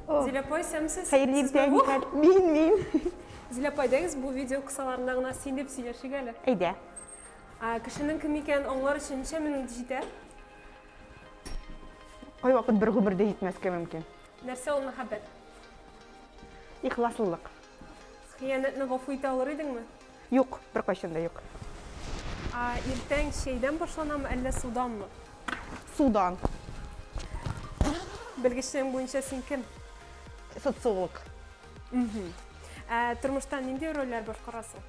Зиләпай, сәмсез. Хәерле иртә, Николь. Мин, мин. Зиләпай, дәгез, бу видео кысаларында гына син дип сөйләшик әле. Әйдә. Кешенең кем икәнен аңлар өчен ничә минут җитә? Кай вакыт бер гомердә җитмәскә мөмкин. Нәрсә ул мәхәббәт? Ихласлылык. Хыянәтне гафу итә алыр идеңме? Юк, беркайчан да юк. Ә иртән чәйдән башланамы, әллә суданмы? Судан. Белгечлегең буенча син кем? Социолог. Угу. Ә тормышта нинди рольләр башкарасың?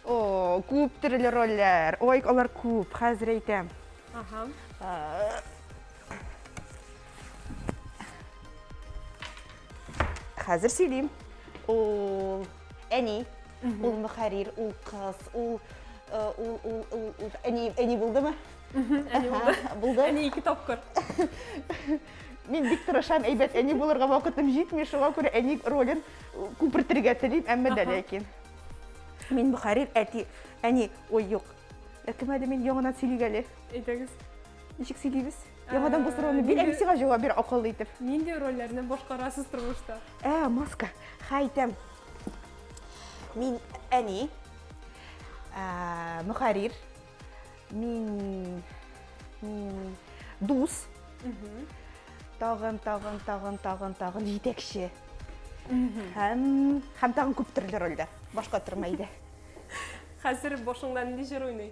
О, күп төрле рольләр. Ой, алар күп. Хәзер әйтәм. Ага. Хәзер сөйлим. Ул әни. ул мөхәррир ул кыз ул ул ул ул ул әни әни булдымы әни булды булды әни ике тапкыр мин бик тырышам әйбәт әни булырга вакытым җитми шуңа күрә әни ролен күпертергә телим әмма дә ләкин мин мөхәррир әти әни ой юк кем әле мин яңадан сөйлик әле әйдәгез ничек сөйлибез яңадан бу сорауны бир әби сиңа җавап бир акыллы итеп нинди рольләрне башкарасыз тормышта ә маска хәйтәм Мин әни, мөхәррир, мин дус, тагын, тагын, тагын, тагын, тагын җитәкче. Һәм һәм тагын күп төрле рольдә. Башка торма иде. Хәзер башыңда нинди җыр уйный?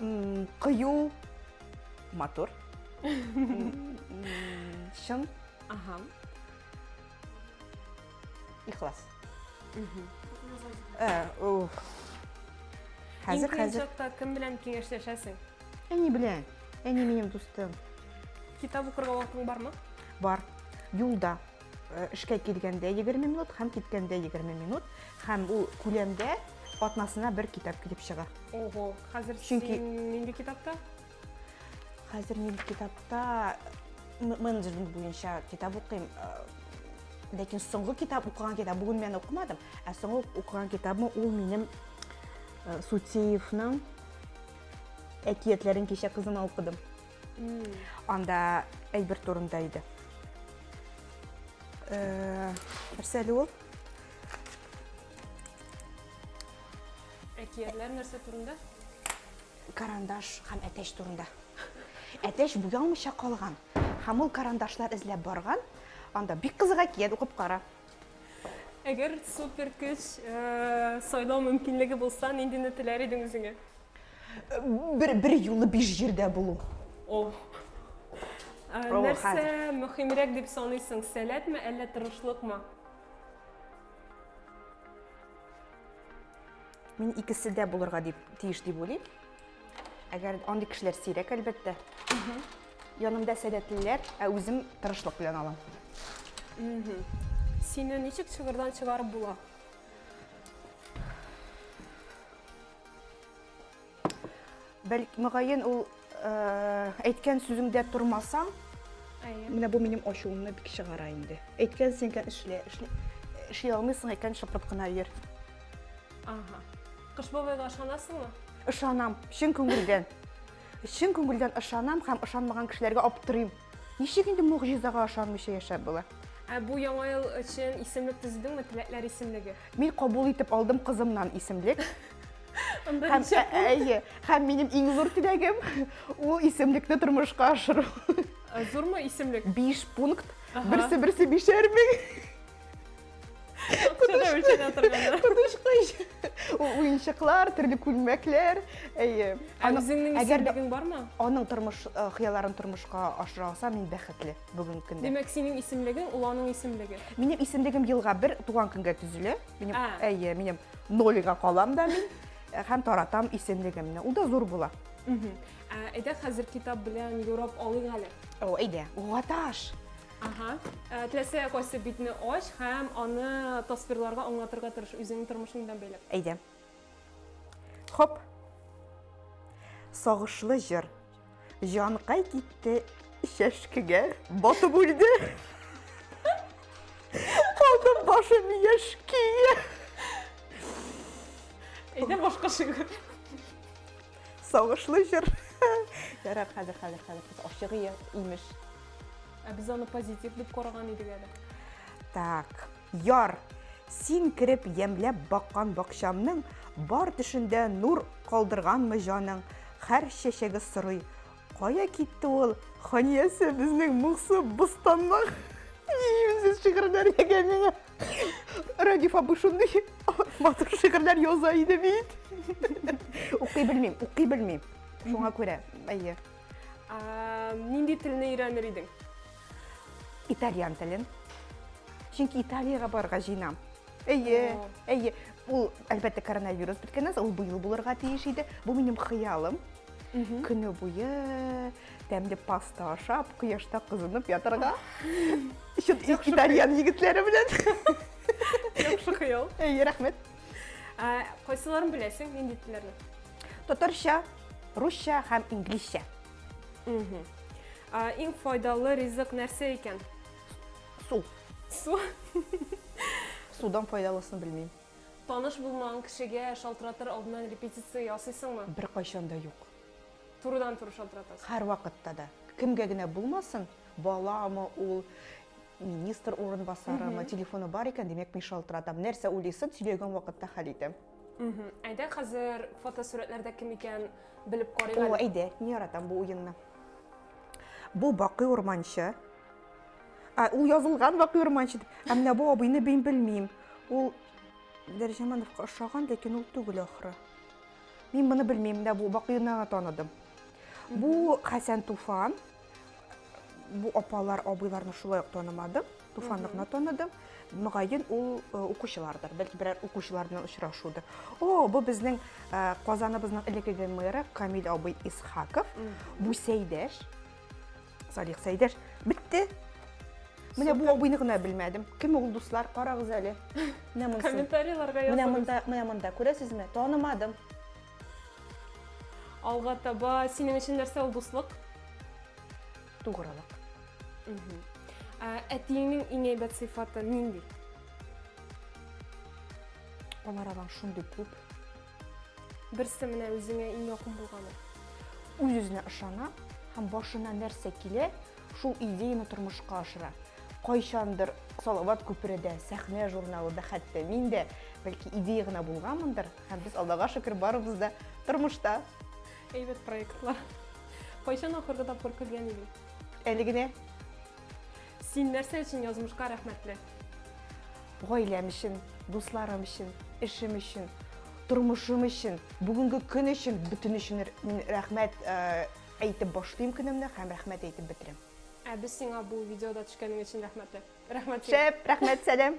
М, Кыю, матур. М, Чын, Ага. ихлас. Мгм. Э, уф. Иң Хәзер, кыен хәзер. чакта кем белән киңәшләшәсең? Әни белән. Әни минем дустым. Китап укырга вакытың бармы? Бар. Юлда. Э, эшкә килгәндә 20 минут һәм киткәндә 20 минут һәм ул күләмдә атнасына бер китап килеп чыга. Ого, хәзер Чөнки... син нинди китапта? Хәзер мин китапта менеджмент буенча китап укыйм. Э, ләкин соңгы китап укыган китап бүген мен укымадым, ә соңгы укыган китабым ул минем э, Сутеевның әкиятләрен кичә кызыма укыдым. Анда әйбер турында иде. Э, нәрсә әле ул? Әкиятләр нәрсә турында? Карандаш һәм әтәч турында. Әтәч буялмыйча калган. Һәм ул карандашлар эзләп барган. Анда бик кызык әкият укып кара. Әгәр супер көч э, сайлау мөмкинлеге булса, ниндине теләр идең үзеңә? Бер, бер юлы биш җирдә булу. О. Э, О, Нәрсә хәзер. мөһимрәк дип саныйсың? Сәләтме, әллә тырышлыкмы? Мин икесе дә булырга дип тиеш дип уйлыйм. Әгәр андый кешеләр сирәк, әлбәттә. Янымда сәләтлеләр, ә үзем тырышлык белән алам. Сине ничек чыгырдан чыгарып була? Бәлки, мөгаен, ул э, әйткән сүзеңдә тормасаң, Әйе. менә бу минем ачуымны бик чыгара инде. Әйткән сеңгән эшлә, эшли, эшли алмыйсың икән, шыпырт кына йөр. Ага. Кыш бабайга ышанасыңмы? Ышанам, чын күңелдән. Чын күңелдән ышанам һәм ышанмаган кешеләргә аптырыйм. Ничек инде могҗизага ышанмыйча яшәп була? Ә бу яңа ел өчен исемлек төзедеңме, теләкләр исемлеге? Мин кабул итеп алдым кызымнан исемлек. Анда Һәм, ничек? ә- әйе, һәм минем иң зур теләгем ул исемлекне тормышка ашыру. Ә, Зурмы исемлек? Биш пункт, Ага. берсе-берсе бишәр мең. Акчада үлчәнә торганда. Кудышкыч. Уенчыклар, төрле күлмәкләр. Әйе. Ә Аның- үзеңнең әгәр дә- исемлегең бармы? Аның тормыш э, хыялларын тормышка ашыра алса, мин бәхетле бүгенге көндә. Димәк, синең исемлегең ул аның исемлеге. Минем исемлегем елга бер туган көнгә төзелә. Минем, А. әйе, минем нолига калам да мин э, һәм таратам исемлегемне. Ул да зур була. Мгм. Ә, Әйдә хәзер китап белән юрап алыйк әле. О, әйдә, угаташ. Ага. Э, Теләсә кайсы битне ач һәм аны тасвирларга аңлатырга тырыш үзеңнең тормышың белән бәйләп. Әйдә. Хоп. Сагышлы җыр. Җанкай китте чәшкегә батып үлде. Калды башым яшькие. Әйдә башка шигырь. Сагышлы җыр. Ярар, хәзер, хәзер, хәзер. Без ашыгы имеш. Ә без аны позитив дип караган идек әле. Так, яр. Син кереп ямьләп баккан бакчамның бар төшендә нур калдырганмы җаның? Хәр чәчәге сорый. Кая китте ул? Ханиясе безнең моңсу бустанның. Ниемсез шигырьләр ягә миңа. Радиф абый шундый матур шигырьләр яза иде бит. Укый белмим, укый белмим. Шуңа күрә, әйе. Нинди телне өйрәнер идең? Итальян телен. Чөнки Италиягә барырга җыенам. Әйе, әйе. Ул, әлбәттә, коронавирус беткәннән соң, ул быел булырга тиеш иде. Бу минем хыялым. Көне буе Тәмле паста ашап, кояшта кызынып ятарга. Чыт итальян егетләре белән. Яхшы хыял. Әй, рәхмәт. Ә, Кайсыларын беләсең, нинди телләрне? Татарча, русча һәм инглизчә. Мгм. Ә, Иң файдалы ризык нәрсә икән? Су. Су. Судан файдалысын белмим. Таныш булмаган кешегә шалтыратыр алдыннан репетиция ясыйсыңмы? Бер кайчан да юк. Турыдан-туры шалтыратасыз. Һәрвакытта да. Кемгә генә булмасын, баламы ул, министр урынбасарымы, телефоны бар икән, димәк, мин шалтыратам. Нәрсә уйлыйсын, сөйләгән вакытта хәл итәм. Әйдә, хәзер фотосурәтләрдә кем икән белеп карыйк әле. О, әйдә, мин яратам бу уенны. Бу Бакый Урманчы. Ә, ул язылган Бакый Урманчы дип. Ә менә бу абыйны мин белмим. Ул Дәрҗәмановка ошаган, ләкин ул түгел ахры. Мин моны белмим дә, бу бакыйны гына таныдым. Бу Хәсән Туфан. Бу апалар, абыйларны шулай ук танымадым. Туфанны гына таныдым. Мөгаен ул э, укучылардыр, бәлки берәр укучылар белән очрашудыр. О, бу безнең э, Казаныбызның элекеге мэры Камил абый Исхаков. Бу Сәйдәш. Салих Сәйдәш, бетте. Менә бу абыйны гына белмәдем. Кем ул дуслар? Карагыз әле. Менә монсы. Комментарийларга языгыз. Менә монда, менә монда күрәсезме? Танымадым. Алга таба синең өчен нәрсә ул дуслык? Тугрылык. Ә әтиеңнең иң әйбәт сыйфаты нинди? Алар агаң шундый күп. Берсе менә үзеңә иң якын булганы. Үз-үзенә ышана һәм башына нәрсә килә, шул идеяны тормышка ашыра. Кайчандыр Салават күпередә, сәхнә журналында хәтта мин дә бәлки идея гына булганмындыр, һәм без Аллага шөкер барыбыз да тормышта. Әйбәт проектлар. Кайчан ахыргы тапкыр көлгән идең? Әле генә Син нәрсә өчен язмышка рәхмәтле? Гаиләм өчен, дусларым өчен, эшем өчен, тормышым өчен, бүгенге көн өчен, бөтен өчен мин рәхмәт э, әйтеп башлыйм көнемне һәм рәхмәт әйтеп бетерәм. Ә без сиңа бу видеода төшкәнең өчен рәхмәтле. Рәхмәт сиңа. Шәп, рәхмәт, сәлам.